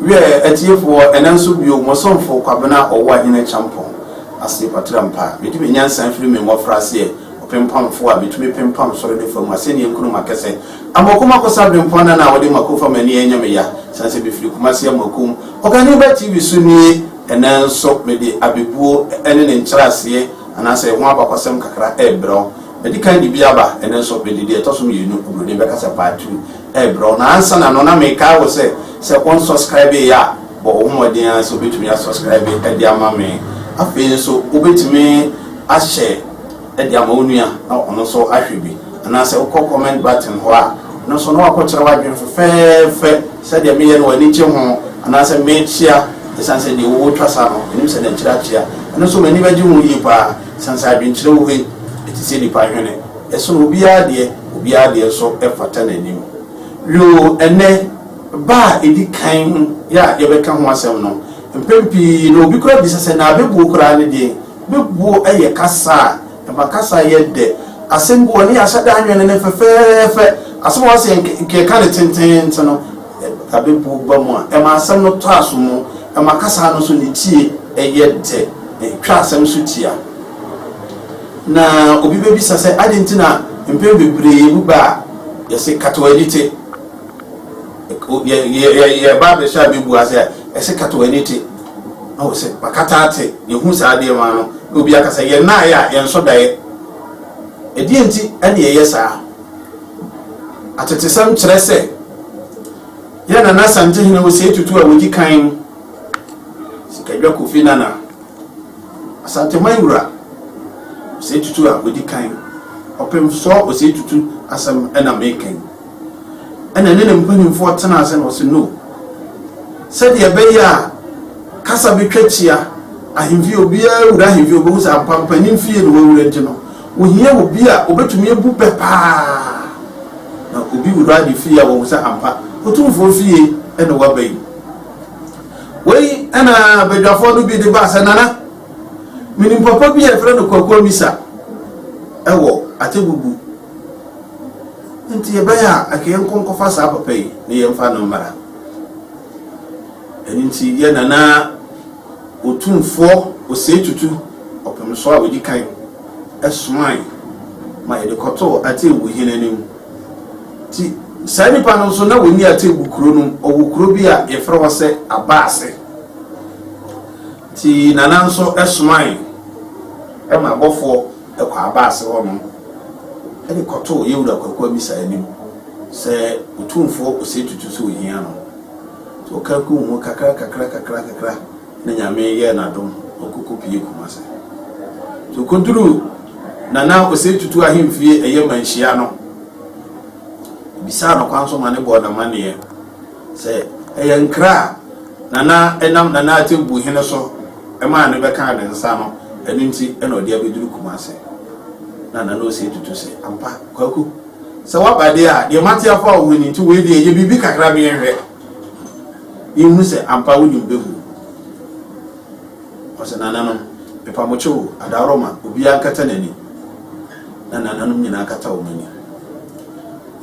wiɛ atiefoɔ ɛnɛ nso bio mo somfo kwabena ɔwɔ ahene kyampɔn ase patra mpa mede me nyansa firi me mmɔfra aseɛ ɔpempamfoɔ a metumi pempam soro ne fam asɛnniɛ nkurom akɛsɛ Amoako mako sa bere mpɔn na na wɔde mako fam ani ɛnyɛ me ya sane sɛ mefiri Kumasi Amoako mu Ɔkani ba TV so nie ɛnɛ nso mede abɛbuo ɛne ne nkyerɛaseɛ anaasɛ ɛho abakɔsɛm kakra ɛrebrɛ wo Madi kan de bi aba ɛnɛ nso mede deɛ ɛtɔ so mmienu Obroni bɛkasa part two ɛrebrɛ wo Nansana no na mekae wo sɛ sɛ wo nsɔskraibe yɛ a bɔ wo ho mmɔden ara sɛ wobɛtumi asɔskraibe de ama me Afei nso wobɛtumi ahyɛ de ama wo nua na ɔno nso ahwɛ bi. Anaasɛ wokɔ comment button hɔ a, ɛno nso na wakɔkyerɛ wo adwene fɛfɛɛfɛ sɛ deɛ meyɛ no w'ani gye ho anaasɛ mekyea ɛsiane sɛ deɛ wowɔ twa sa no menim sɛ na akyire akyea. Ɛno nso m'ani bɛgye ho yie pa ara ɛsiane sɛ adwenkyerɛ wɔ hɔ yi ɛte sɛ nnipa hwene. Ɛsono obiara deɛ, obiara deɛ nso fata n'anim. Yoo, ɛnnɛ, ba a ɛdi kan yi a yɛbɛka ho asɛm no, mpɛn pii no obi koraa bisa sɛ, Na abɛbuo koraa ne deɛn? Bebuo yɛ kasa a ɛma kasa yɛ dɛ. Asɛm bi wɔ hɔ, ne yɛahyɛ da anwene no fɛfɛɛfɛ. Asɛm a wɔasɛ nka yɛka no tenteenten no, abebuo ba mu a, ɛma asɛm no tɔ asomu. Ɛma kasa no nso ne tie yɛ dɛ, na ɛtwa asɛm so tia. Na obi bɛbisa sɛ, adɛn nti na mpɛn bebree yɛbu bɛ a, yɛse, Kata w'ani te. Yɛba abɛhyɛ a bɛbu ase a, Ɛse kata w'ani te na wɔ se wakata ate na ehu saa adeɛ no ano na obi aka sɛ yɛn naeɛ a yɛn nsɔ daeɛ. Ɛdeɛn nti na yɛyɛ saa? Atetesɛm kyerɛ sɛ yɛn Nana Asantehene Osei Tutu a wɔdi kan no, Sikadwa Kofi Nana, Asanteman Wura Osei Tutu a wɔdi kan, Ɔpemfoɔ Osei Tutu asɛm na meka yi. ɛna ɛne ne mpanimfoɔ tena ase na ɔse no sɛdeɛ ɛbɛyɛ a kasa bɛtwa kyia ahemfie obiara wura ahemfie obɛhu sɛ ampampanin fie na wawura nti no wohia obi a obɛtumi abu pɛ paa na obi wura ne fie a wɔhu sɛ ampa otumfoɔ fie ɛna waba yi wei ɛna badwafoɔ no bi de baa sɛ nana menim papa bi a ɛfrɛ no kwakoa misa ɛwɔ atebubu Enti ɛbɛyɛ a anka yɛnkɔ nkɔfa saa papa yi na yɛmfa no mmra. Ɛno nti yɛn Nana Otumfoɔ Osei Tutu Ɔpemsoɔ a ɔdi kan somae ma yɛde kɔtoo Atebu hene anim. Nti saa nipa no nso na ɔnni Atebu kuro no mu, ɔwɔ kuro bi a yɛfrɛ hɔ sɛ Abaase. Nti Nana nso somae ma abɔfoɔ. Ɛkɔ Abase hɔnom de kɔtoo Yewura Kwaku Amisa anim sɛ Otumfoɔ Osei Tutu sɛ ohia no. Nti ɔkaa kum ho kakra kakra kakra kakra na Nyame yɛɛ no adom na ɔkɔ kɔ pue Kumase. Nti ɔkɔduruu Nana Osei Tutu ahemfie ɛyɛ Manhyia no, ɔbisaa no kwan so ma ne bɔɔ no amanneɛ. Sɛ ɛyɛ nkra a Nana nam Nana Atembu Hene so maa no bɛkaa ne nsa no, ɛno nti na ɔde abɛduru Kumase. Na Nana Osei Tutu se, Ampa, Kwaku, sɛ woaba deɛ a, deɛ mate afa wo ho ni nti wei deɛ yɛ biribi kakra ma yɛnhwɛ, yɛnhunu sɛ ampa wonim bɛgu mu. Ɔse, Nananom, mepa mo kyɛw o, Adaworoma, obiara nkata n'ani. Na Nananom nyinaa kata wɔn ani.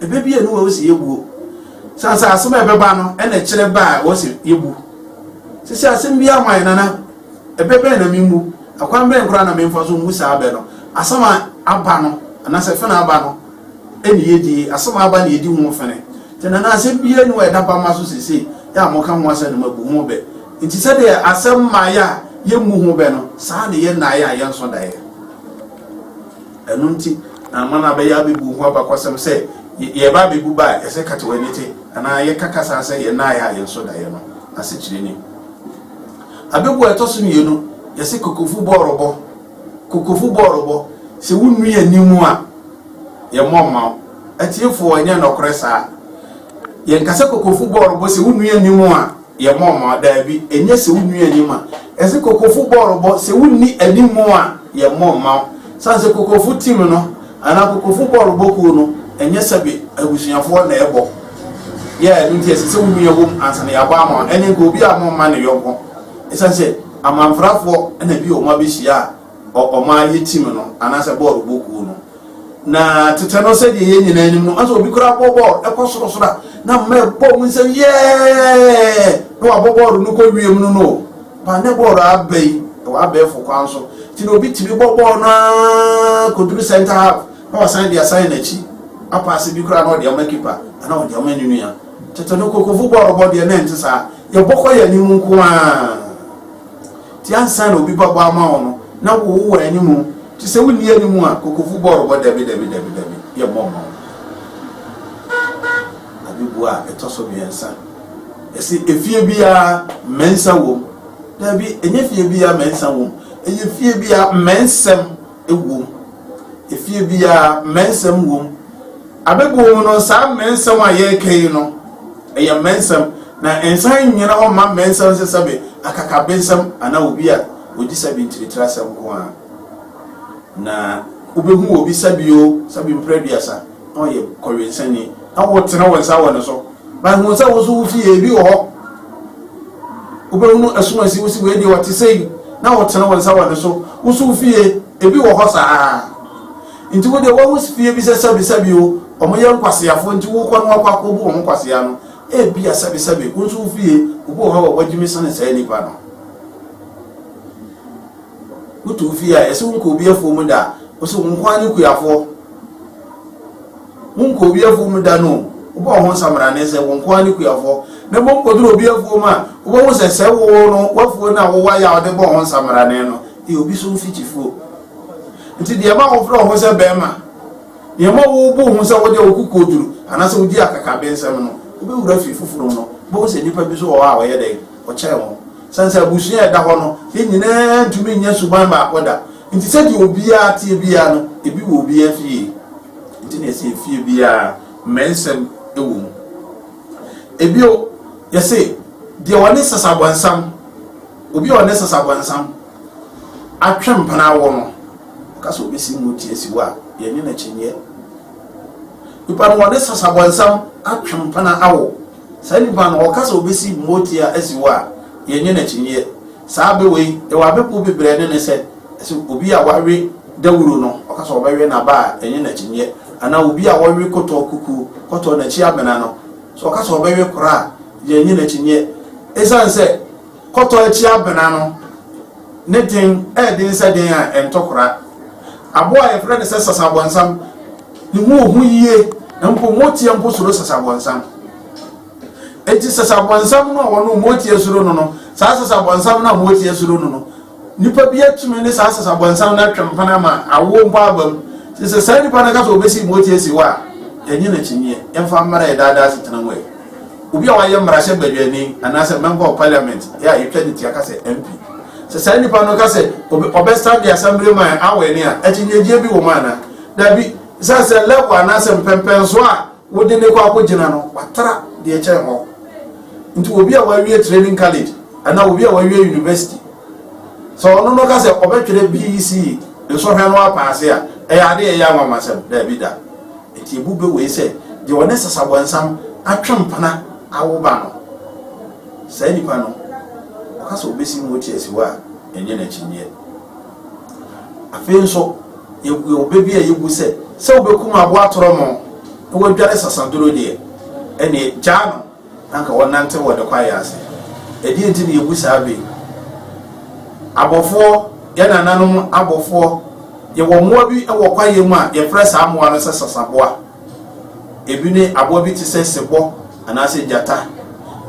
Ebebue no wɔ wo se yɛwuo. Sɛ ansa asɛm a ɛbɛba no ɛna ɛkyerɛ ba a wɔ se yɛwu. Sɛ sɛ asɛm bi ama yɛ nana ɛbɛ bɛn na memmu, ɛkwan bɛn koraa na memfa so mmu saa bɛ no. Asɛm a aba no anaasɛ fene aba no ɛne yɛdie. Asɛm a aba na yɛdi ho fene. Nti nana asɛm biara ni wɔ ɛda ba ma so sesei yɛ a moka ho asɛm no mabu ho bɛ. Nti sɛdeɛ asɛm ma yɛ a yɛmmu ho bɛ no saa na yɛ nnaeɛ a yɛnso daeɛ. Ɛno nti na ama no abɛyɛ abebu ho abakɔsɛm sɛ yɛba abebu ba a, ɛsɛ kate w'ani te, anaa yɛka kasa sɛ yɛn nan ayɛ a yɛn so da yɛn no asekyerɛ ni. Abebu a ɛtɔ so mmienu, yɛse kokofu bɔ ɔrɔbɔ. Kokofu bɔ ɔrɔbɔ, sɛ wonnui ani mu a, yɛmmɔ mma wo. Atiefoɔ, ɛnyɛ nɔkorɛ saa. Yɛnka sɛ kokofu bɔ ɔrɔbɔ sɛ wonnui ani mu a. Yɛ mɔɔmɔɔ, daabi, ɛnyɛ sɛ wo nwi anim a, ɛse kokofo bɔɔlobɔ, sɛ wo nni animu a, yɛ mɔɔmɔɔ. Sane sɛ kokofo team no, anaa kokofo bɔɔlobɔ kuo no, ɛnyɛ sɛbe abusuafoɔ na ɛbɔ, yɛ ɛno nti ɛse sɛ wo nwi ɛwom ansa na yɛabɔ ama wo, ɛne nka obiara mɔɔmma ne yɔnko, ɛsane sɛ amanfrafoɔ na bi wɔn abɛhyia a, ɔman yi team no anaasɛ bɔɔl bɔ kuo no na tetɛ no sɛdeɛ yɛn nyinaa nim no anso obi koraa bɔ bɔɔl ɛkɔ sorosoro a na mma ɛbɔ mu nsɛm yɛɛ na wabɔ bɔɔl no kɔ wiem no no ba ne bɔɔl aba yi ɛwɔ abɛɛfo kwan so nti na obi tumi bɔ bɔɔl no ara kɔduru center half na wasan de asan n'akyi apaase bi koraa na ɔde ama kipa ana ɔde ama ne nua tetɛ no kokofu bɔɔl bɔ deɛ na ɛnte saa yɛbɔ kɔ yɛn anim nko ara Ti ansa na obi bɛbɔ ama wo no na wo wɔ anim nti sɛ wonni anim a kokofo bɔ rebɔ dabi dabi dabi dabi yɛmmɔ mma wo. Ade bua a ɛtɔ so mmiɛnsa ɛse efie biara mmɛnsa wom dabi ɛnyɛ fie biara mmɛnsa wom ɛyɛ fie biara mmɛnsɛm. wom. Efie biara, mmɛnsɛm wom. Abɛbuo mu no, saa mmɛnsɛm a yɛreka yi no, ɛyɛ mmɛnsɛm, na ɛnsan nnyina hɔ mma mmɛnsɛm sɛ sɛbe akakabensɛm anaa obi a ɔdi sɛbe ntiritirasɛm nko ara. Na wobɛhu obi sɛbe o, sɛbe mprɛ aduasa. Ɔyɛ kɔwensani na wotene wo nsa wɔ ne so. But hu sɛ wo nso wo fie ebi wɔ hɔ. Wobɛhunu asumansi wo si wei deɛ ɔte sɛ yi na wotene wo nsa wɔ ne so. Wo nso wo fie ebi wɔ hɔ saa. Nti wo deɛ woahu fie bi sɛ sɛbesɛbe o, wɔn yɛ nkwaseafoɔ nti wokɔ no wakɔ akɔbu wɔn nkwasea no. Ebia sɛbesɛbe wo nso wo fie obi wɔ hɔ a wɔagyimi sene saa nipa no. Woto wo fie a, ɛsɛ wonkɔ obi afuo mu da. Ɔsɛ wo nko ara ne kuafoɔ. Wonkɔ obi afuo mu da no. Wobɔ ho nsamrane sɛ wo nko ara ne kuafoɔ. Na mmom kɔduru obi afuo mu a, wobɛhu sɛ sɛ wo no w'afuo no a wowɔ ayɛ a wode bɔ ho nsamrane no, ɛyɛ obi so mfikyifuo. Nti deɛ ɛma wofrɛ wo ho sɛ bɛrima, deɛ ɛma wobu ho sɛ wodeɛ wo koko duru anaasɛ wodi akakabensɛm no, wobɛwura fie foforɔ mu no, wobɛhu sɛ nnipa bi so wɔ hɔ a wɔyɛ dɛn? Wɔkyɛn wo. Esiane sɛ abusua a ɛda hɔ no ne nyinaa ntumi nyɛ suban baako da nti, sɛnea obiara teɛ biara no, ebi wɔ obiara fie. Enti na yɛse efie biara mmɛnsɛm wɔ mu. Bio, yɛse deɛ ɔne sasabɔnsam, obi a ɔne sasabɔnsam atwe mpena awo no, ɔka sɛ ɔbɛsi ngo tia siwo a, yɛnye no akyinnyeɛ. Nipa no, ɔne sasabɔnsam atwe mpena awo. Saa nipa no, ɔka sɛ obesi motia asi hɔ a, yɛnyɛ no akyinnyeɛ. Saa bɛ wei, yɛwɔ abɛ kuo bebrɛɛ ne no sɛ, sɛ obi a wawe dawuro no, ɔka sɛ ɔbɛwe n'aba a, yɛnyɛ no akyinnyeɛ. Anaa obi a wawe kɔtɔɔ kukuo, kɔtɔɔ n'akyi amena no, sɛ ɔka sɛ ɔbɛwe kora a, yɛnyɛ no akyinnyeɛ. Esiane sɛ. Kɔtɔ akyi abena no, ne den yɛ den sɛ den a ɛntɔ kora. Aboa a wɔfrɛ no sɛ sasabɔnsam no hu ohu yiye, na mpo moteɛ mpo suro sasabɔnsam. Enti sasabɔnsam no a wɔn moteɛ suro no no, saa sasabɔnsam no a moteɛ suro no no, Nipa bi atumi ne saa sasabɔnsam no atwe mpena ama awo mpo aba mu. Te sɛ saa nipa no ka sɛ obesi moti asi hɔ a, ɛnyɛ n'akyinnyeɛ. Yɛmfa mmara yɛ daadaa asetena mu ɛ. Obi a wayɛ mmarahyɛ badwani anaasɛ Member of Parliament a yɛtwa ne tua ka sɛ MP. Sɛ saa nipa no ka sɛ ɔbɛsan de asɛmbere ma awɛne a, akyinnyegyeɛ bi wɔ mu anaa? Dabi. Ɛsiane sɛ level anaasɛ mpɛmpɛnsoɔ a Wode no kɔ akɔgyina no, watra deɛ ɛkyɛn hɔ. Nti obi a wawie training college anaa obi a wawie university, sɛ ɔno no ka sɛ ɔbɛtwerɛ BEC nsɔhwɛ no apaase a, ɛyɛ ade a ɛyɛ anwanwasɛm? Daabi da. Nti ebu bɛ wei sɛ deɛ ɔne sasabɔnsam atwe mpena awo ba no, saa nipa no, ɔka sɛ ɔbɛsi mu ɔte asiwa a, ɛnyɛ no akyinnyeɛ. Afei nso, yɛwɔ ɔbɛ bi a yɛbu sɛ, sɛ wobɛkum aboa torɔmɔ na wadwane sasaduro deɛ, ɛneɛ gyaa no na anka wɔnante wɔ ne kwaeɛ ase. Ɛdeɛ nti na yɛbu saa bɛ yi? Abɔfoɔ, yɛn nananom abɔfoɔ, yɛwɔ mmoa bi wɔ kwaeɛ mu a yɛfrɛ saa mmoa no sɛ sasaboa. Ebi ne aboa bi te sɛ sebɔ anaasɛ gyata.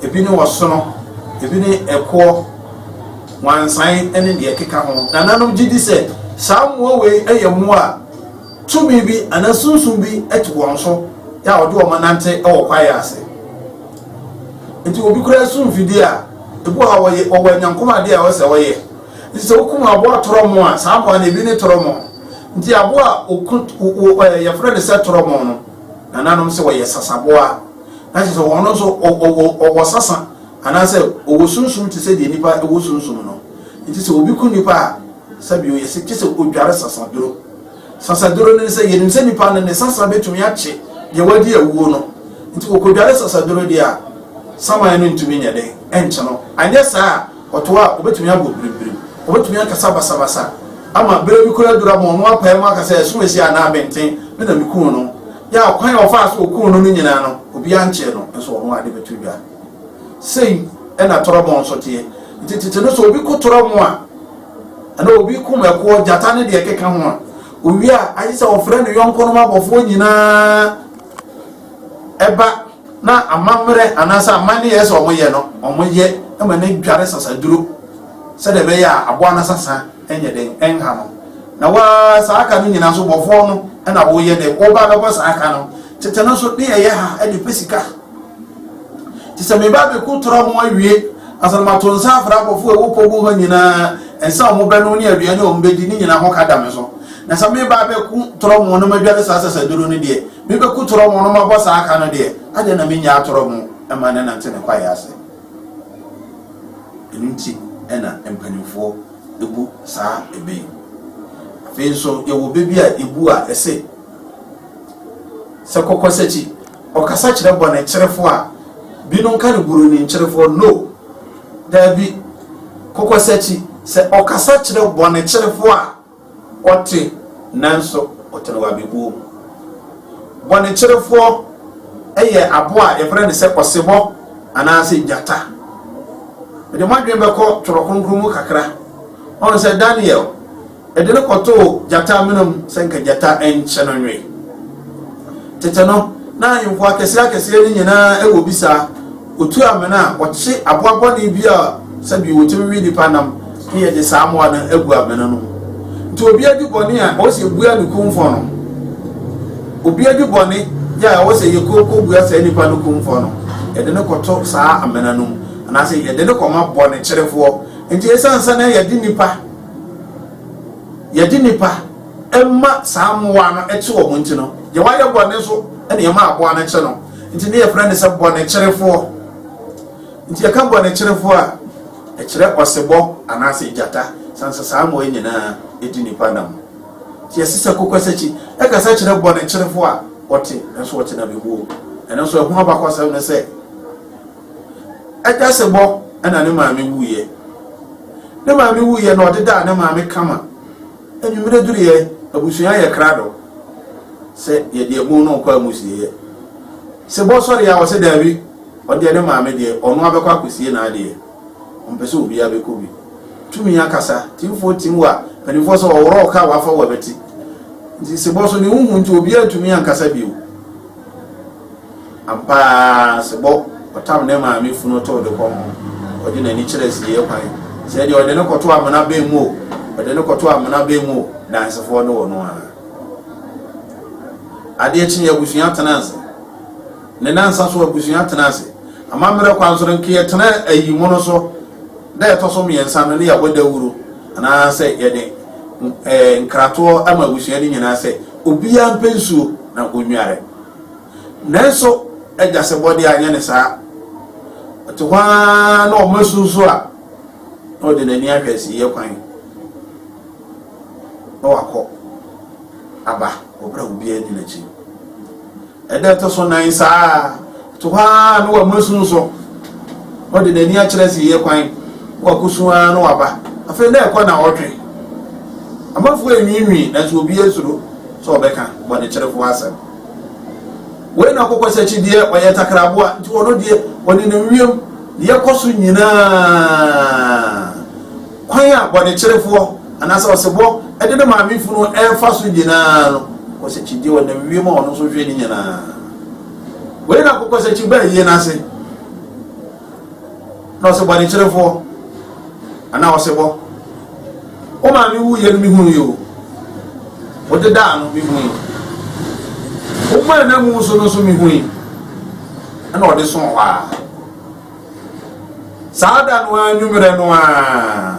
Ebi ne ɔsono. Ebi ne ɛkoɔ, wansan ne deɛ ɛkeka ho. Nananom gye di sɛ saa mmoa wei yɛ mmoa a tumi bi anaa sunsum bi te wɔn so yɛ a wɔde wɔn nante wɔ kwaeɛ ase. Nti obi kura so mfidie a ebi wɔ hɔ a wɔyɛ wɔwɔ anyankomadeɛ a wɔsɛ wɔyɛ. Nti sɛ wokum aboa torɔmɔ a, saa aboa no ebi ne torɔmɔ. Nti aboa a oku wo ɛ yɛfrɛ no sɛ torɔmɔ no, nananom sɛ ɔyɛ sasaboa. Na kyerɛ sɛ ɔno nso ɔ ɔ ɔ ɔwɔ sasa anaasɛ ɔwɔ sunsum te sɛ deɛ nipa wɔ sunsum no. Nti sɛ obi ku nipa a, sɛbio yɛse gye sɛ odware sasaduro. Sasaduro no ne sɛ yɛnim sɛ nipa no ne sasa bɛtumi akye deɛ wadi awuo no. Nti wɔkɔdware sasaduro deɛ a, saman no ntumi nyɛ dɛn nkye no. Anyɛ saa a, Ɔtow a, obetumi abɔ birimbirim. Obetumi akasa basabasa ama bere bi koraa aduru ama ɔno apae mu aka sɛ, ɛso esi anaa abɛnten me na mikum no. Yɛ a ɔkwan a ɔfaa so okum no no nyinaa no, obiara nkyee no, nso ɔno ara de beto dwa. Sei na torɔmo nso teɛ. Enti tete no, sɛ obi ko torɔmo a, anaa obi kum ɛkoɔ, gyata ne deɛ ɛkeka ho a, owie a, agye sɛ ɔfrɛ ne yɔnkonom abɔfoɔ nyinaa ba. na amammerɛ anaasɛ amanneɛ a ɛsɛ sɛ wɔyɛ no, wɔyɛ ma no adware sasaduro sɛdeɛ ɛbɛyɛ a aboa no asasa nyɛ den, ɛnha no. Na waa saa ka no nyinaa so bɔfoɔ no na woyɛ dɛ, woba bɛbɔ saa ka no. Tete no nso, ne yɛyɛ ha de pɛ sika. Nti sɛ meba bɛku torɔ mo awie, ansa na mato nsa afra abɔfoɔ a ɛwɔ pogu hɔ nyinaa, nsa a wɔbɛnom ne aduane a wɔbɛdi ne nyinaa ho ka da me so. Na sɛ meba bɛku torɔ mo na madware saa sasaduro no deɛ, Me bɛku torɔ mo no mabɔ saa ka no deɛ, adɛn na me nnyaa torɔ mo ma no nante ne kwaeɛ ase? Ɛno nti na mpanimfoɔ bu saa ɛbɛ yi. Afei nso yɛwɔ bɛ bi a yɛbu a ɛse, sɛ kɔkɔsakyi ɔkasa kyerɛ bɔ ne kyerefoɔ a, binom ka ne buroni nkyerefoɔ no. Daabi, kɔkɔsakyi sɛ ɔkasa kyerɛ bɔ ne kyerefoɔ a, Ɔte, nanso ɔte no wɔ abɛbuo mu. Bɔnekyerefoɔ yɛ aboa a yɛfrɛ no sɛ ɔsebɔ anaasɛ gyata. Mede mo adwene bɛkɔ Twerɛ Kronkron mu kakra. Ɔhu sɛ Daniel de no kɔtoo gyata amena mu sɛ nka gyata nkye no nwe. Tete no, na ahemfo akɛseɛ akɛseɛ no nyinaa wɔ bi saa. Otu amena a, ɔkye aboa bɔne bi a sɛbi wotumi we nipa nam na yɛde saa mmoa no agu amena no mu. Nti obi adi bɔne a, ɛwɔ sɛ yɛbua ne kumfɔ no. Obi adi bɔne yɛ a, ɛwɔ sɛ yɛkɔbua saa nipa no kumfɔ no. Yɛde no kɔto saa amena no mu, anaasɛ yɛde no kɔma bɔnekyerefoɔ. Nti ɛsiane sɛ na yɛde nipa, yɛde nipa. ɛma saa mmoa no te wɔn nti no, deɛ wayɛ bɔne nso na ɛma aboa no kye no. Nti ne yɛfrɛ no sɛ bɔnekyerefoɔ. Nti yɛka bɔnekyerefoɔ a, ɛkyerɛ ɔsebɔ anaasɛ gyata, sane sɛ saa mmoa nyinaa ɛdi nipa nam. Nti yɛse sɛ kokwasakyi ɛkasa kyerɛ bɔnekyerefoɔ a ɔte nso ɔte na bɛwuo. Ɛno nso ɛho abakɔsɛm no sɛ ɛda sebɔ ɛna ne maame wuiɛ. Ne maame wuiɛ na ɔde daa ne maame kama. Anwummere duruiɛ, abusua yɛ krado sɛ yɛde ɛbon no rekɔ amusieɛ. Sɛ bɔ sɔre a, ɔsɛ daabi, ɔdeɛ ne maame deɛ, ɔno abɛkɔ akɔsie n'adeɛ. Ɔmpɛ sɛ obiara bɛkɔ bi. Tumi akasa, timfoɔ tim wa, mpanimfoɔ sɛ ɔworɔ wo ka a, wafa wo abati. Nti Sebɔ so ne ho hu nti obiara ntumi ankasa bio. Ampa ara, sebɔ ɔtam ne maame funu tow de kɔ ho, ɔde n'ani kyerɛ asiei kwan. Sɛ ɛdeɛ, ɔde no kɔto amena bɛn mu o, ɔde no kɔto amena bɛn mu o, dansefoɔ ne ɔno ara. Adeɛ kyeeɛ, abusua tenaa ase. Ne nansa so, abusua tenaa ase. Amammerɛ kwan so no, nka yɛtena ayi mono so, da ɛtɔ so mmiɛnsa no ne yɛabɔ dawuro, anaasɛ yɛde nkratoɔ ama abusua no nyinaa sɛ obiara mpɛ nsuo na ɔnware. Nanso agya sebɔ de anyɛ no saa. Ɔte hɔ ara na ɔma asu so a, na ɔde n'ani ahwɛ asiyɛ kwan na wakɔ aba wɔ berɛ a obiara di n'akyi. Ɛda ɛtɔ so nan saa ɔte hɔ ara na wama asu so na ɔde n'ani akyerɛ asiyɛ kwan na wakɔsu ara na waba. Afei na ɛkɔ na ɔtwe. Amanfoɔ anwiinwii nanso obiara suro sɛ ɔbɛka bɔnekyerɛfoɔ asɛm. Wei na kokɔsakyi deɛ ɔyɛ takraboa, nti ɔno deɛ ɔnenam wiem deɛ kɔ so nyinaa. Kwan a bɔnekyerefoɔ anaasɛ ɔsebɔ de ne maame funu ɛrefa so nyinaa no, kokɔsakyi deɛ ɔnam wiem a ɔno nso hwɛ ne nyinaa. Wei na kokɔsakyi baa yie no ase. Na ɔse bɔnekyerɛfoɔ anaa ɔsebɔ wo maame wuiɛ no mehunuuɛ o wodedaa no mehui wo maa na mu so no nso mehui ɛna ɔde so hɔ a saa da no ara nwumerɛ no ara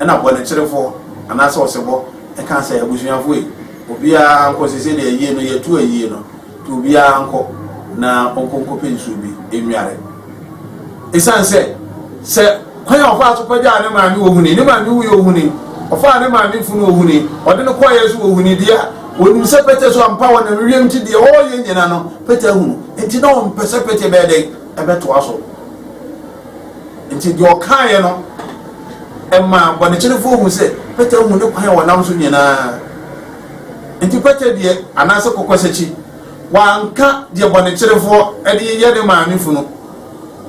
ɛna bɔnekyerɛfoɔ anaasɛ ɔsebɔ ɛka sɛ abusuafoɔ yi obiara nkɔ sese deɛ ayie no yɛtu ayie no To obiara nkɔ na ɔnkɔ nkɔpɛ nsuo bi nnware. Esiane sɛ sɛ kwan a ɔfaa so kɔgyaa ne maame wɔ huni, ne maame wuiɛ wɔ huni, ɔfaa ne maame funu wɔ huni, ɔde no kɔeɛ nso wɔ huni deɛ a, wɔnim sɛ Pete so ampa wɔnam ewiem nti deɛ ɔreyɛ nyina no Pete ahunu. Nti na ɔmpɛ sɛ Pete bɛyɛ dɛn? Ɛbɛtoa so. Nti deɛ ɔkaeɛ no ɛmaa bɔnekyerefoɔ hu sɛ Pete ahu ne kwan a ɔnam so nyinaa. Enti kwatadie anaasɛ kokwasakyi, wanka deɛ bɔnekyerefoɔ de yɛ ne maame funu,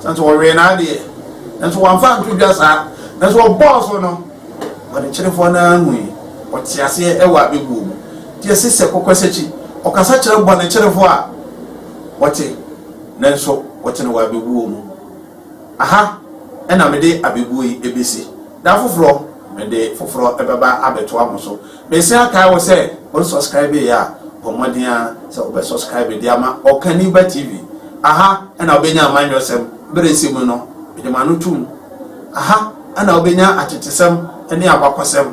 sane sɛ wɔwee n'adeɛ, nanso wɔamfa anto dwa saa, nanso wɔbɔɔ so no, bɔnekyerefoɔ no ara hui, wɔte aseɛ ɛwɔ abɛbuo mu. Nti ɛse sɛ kokwasakyi, ɔkasa kyerɛ bɔnekyerefoɔ a, wɔte, nanso wɔte no wɔ abɛbuo mu. Aha na mede abɛbuo yi ɛbɛsi, da foforɔ mede foforɔ ɛbɛba abɛtoa mo so. Mesan akae wo sɛ wo nsɔskraibe yɛ a bɔ mmɔden ara sɛ wobɛ sɔskraibe de ama Ɔkaniba TV. Aha na wobɛnya amanyɔsɛm berɛ ɛsɛ mu no mede m'ano tom. Aha na wobɛnya atetesɛm ne abakɔsɛm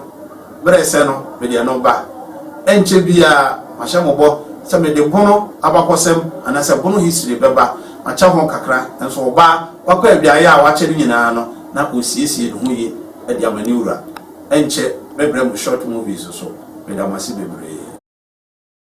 berɛ ɛsɛ no mede ɛno ba. Ɛnkyɛ biara mahyɛ mo bɔ sɛ mede Bono abakɔsɛm anaasɛ Bono History bɛba. Makyɛ ho kakra nso ɔbaa wakɔ awiaeɛ a wakyɛ no nyinaa no na ɔresiesie ne ho yie de ama ne wura. Ɛnkyɛ mɛbrɛ mo short movies nso. Meda mo ase bebree.